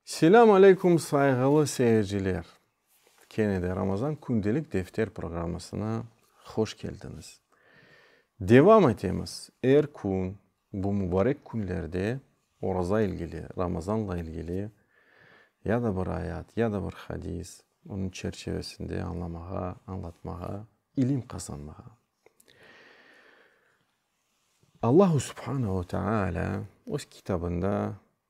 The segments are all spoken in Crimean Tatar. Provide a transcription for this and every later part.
Selâm aleykum sayğılı seyirciler! Kene de Ramazan Kündelik Defter programmasına hoş keldiñiz. Devam etemiz, er kün bu mubarek künlerde oraza ilgili, Ramazanla ilgili ya da bir ayat, ya da bir hadis, onıñ çerçevesinde añlamağa, añlatmağa, ilim qazanmağa. Allahu subhanahu teâlâ öz Kitabında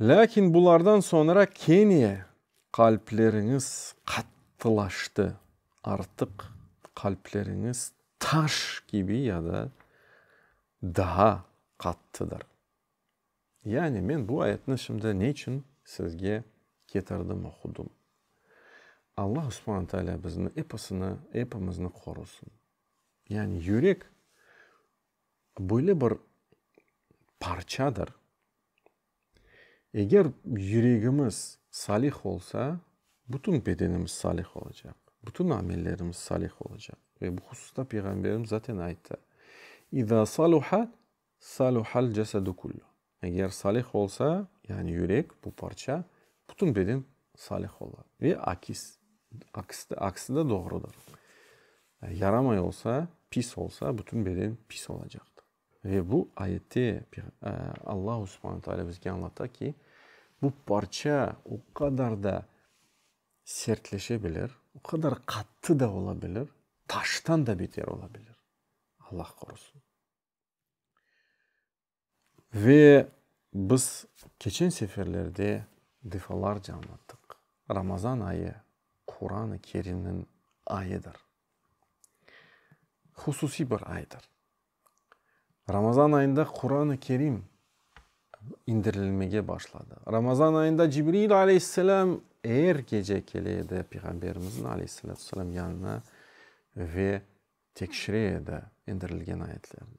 Lâkin bulardan soñra kene qalpleriñiz qattılaştı, artıq qalpleriñiz taş kibi ya da daa qattıdır. Yani men bu ayetni şimdi ne içün sizge ketirdim, oqudım? Allah Subhane Taalâ bizni episini, epimizni qorusın. Yani yürek böyle bir parçadır, eger yüregimiz salih olsa, bütün bedenimiz salih olacaq, bütün amellerimiz salih olacaq. Ve bu hususta Peyğamberimiz zaten ayttı: İza saluha, saluhal cesedu kullu. Eger salih olsa, yani yürek, bu parça, bütün beden salih ola. Ve akis, aksi de doğrudır. Yaramay olsa, pis olsa, bütün beden pis olacaqtır. Ve bu ayette Allahu subhane taalâ bizge añlata ki, bu parça o qadar da sertleşe bilir, o qadar qattı da ola bilir, taştan da beter ola bilir. Allah qorusun. Ve biz keçen seferlerde defalarca anlattıq, Ramazan ayı Quran-ı Kerimniñ ayıdır. Hususiy bir aydır. Ramazan ayında Quran-ı Kerim indirilmege başladı. Ramazan ayında Cibril aleyhisselam er gece kele edi Peyğamberimizniñ aleyhissalâtu vesselâm yanına ve tekşire edi indirilgen ayetlerni.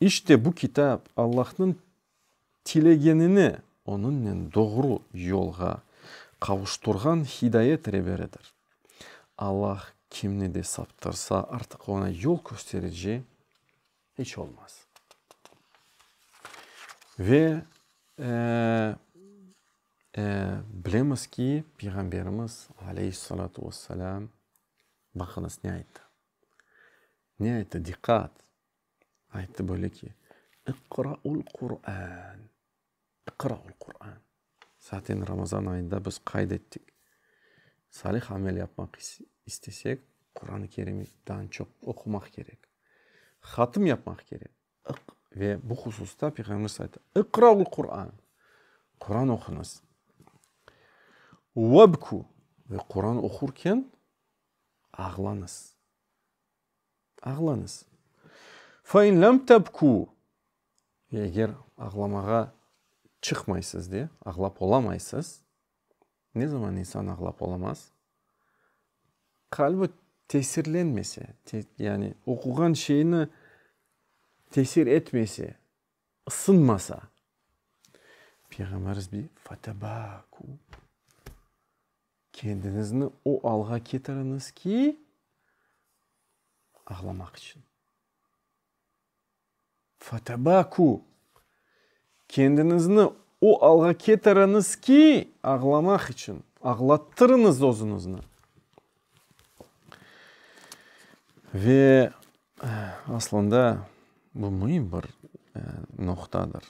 İşte bu kitap Allahnıñ tilegenini onıñnen doğru yolğa qavuşturğan hidayet reberidir. Allah kimni de saptırsa, artıq oña yol kösterici iç olmaz. Ve bilemiz ki, Peyğamberimiz, aleyhissalâtu vesselâm, baqıñız ne ayttı? Ne ayttı? Diqqat! Ayttı böyle ki, İqra'ul Qur'an, İqra'ul Qur'an. Zaten Ramazan ayında biz qayd ettik, salih amel yapmaq istesek, Quranı Kerim'i dan çoq oqumaq kerek, hatm yapmaq kerek. Ve bu hususta Peyğamberimiz ayttı, İqra'ul Qur'an, Quran oquñız. Vabku, ve Quran oqurken ağlañız. Ağlañız. Fe in lem tebkû, eger ağlamağa çıqmaysız de, ağlap olamaysız, ne zaman insan ağlap olamaz? Qalbi tesirlenmese, yani oquğan şeyini tesir etmese. Isınmasa, Peyğamberimiz bir fetebâkû, kendiñizni o alğa ketiriñiz ki, ağlamaq içün, fetebâkû, kendiñizni o alğa ketiriñiz ki, ağlamaq içün, ağlattırıñız özüñizni. Ve aslında bu müim bir noqtadır.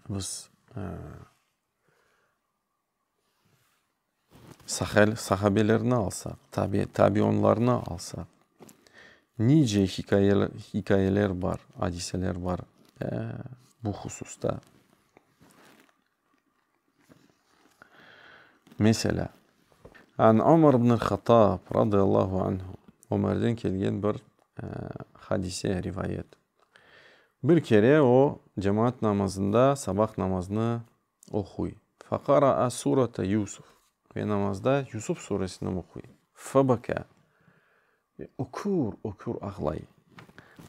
Biz sahel, sahabelerni alsaq, tabi, tabionlarnı alsaq, nice hikayeler, hikayeler bar, adiseler bar bu hususta. Meselâ, An Ömer ibn al-Hattab, radıyallahu anhu, Ömerden kelgen bir hadise, rivayet. Bir kere o, cemaat namazında sabah namazını oquy. Feqara'a surete Yusuf. Ve namazda Yusuf suresini oquy. Febekâ. Ve ökür-ökür ağlay.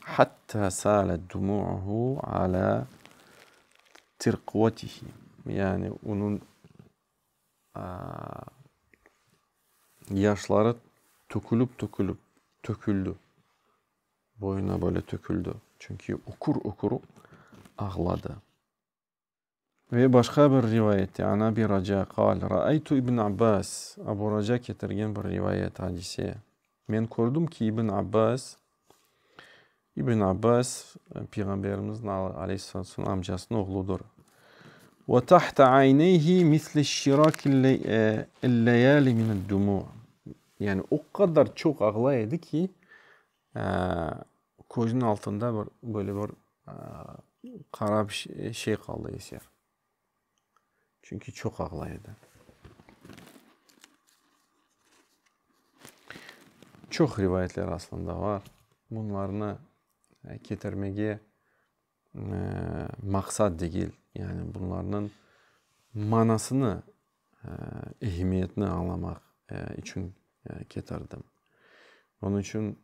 Hatta salet dumu'uhu ala tirqvatihi, yani onıñ yaşları tökülip-tökülip töküldi, boyuna böyle töküldi, çünki ökür-ökür ağladı. Ve başqa bir rivayette, An Abi Raca qâl, Râaytu İbn Abbâs, Abu Raca ketirgen bir rivayet, hadise, Men kördim ki, İbn Abbâs, İbn Abbâs, Peyğamberimizniñ aleyhissalâtu vesselâm amcasınıñ oğludır. Ve tahta ayneyhi mislişşirakil-leyâli mined-dumû. Yani o qadar çoq ağlay edi ki, Közüniñ altında bir böyle bir qara bir şey qaldı eser. Çünki çoq ağlay edi. Çoq rivayetler aslında bar. Bunlarnı ketirmege. maqsat degil, yani bunlarnıñ manasını, ehemmiyetini añlamaq içün ketirdim. Onıñ içün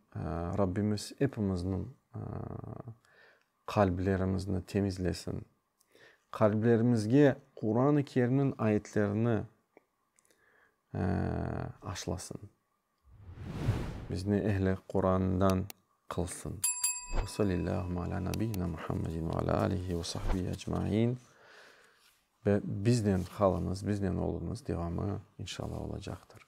Rabbimiz epimizniñ qalblerimizni temizlesin, qalblerimizge Quran-ı Kerimniñ ayetlerini aşlasın. Bizni ehli Qurandan qılsın. Ve sallallahu ala nabiyyina Muhammedin ve ala alihi ve sahbihi ecmain. Ve biznen qalınız, biznen olunız devamı inşallah olacaqtır.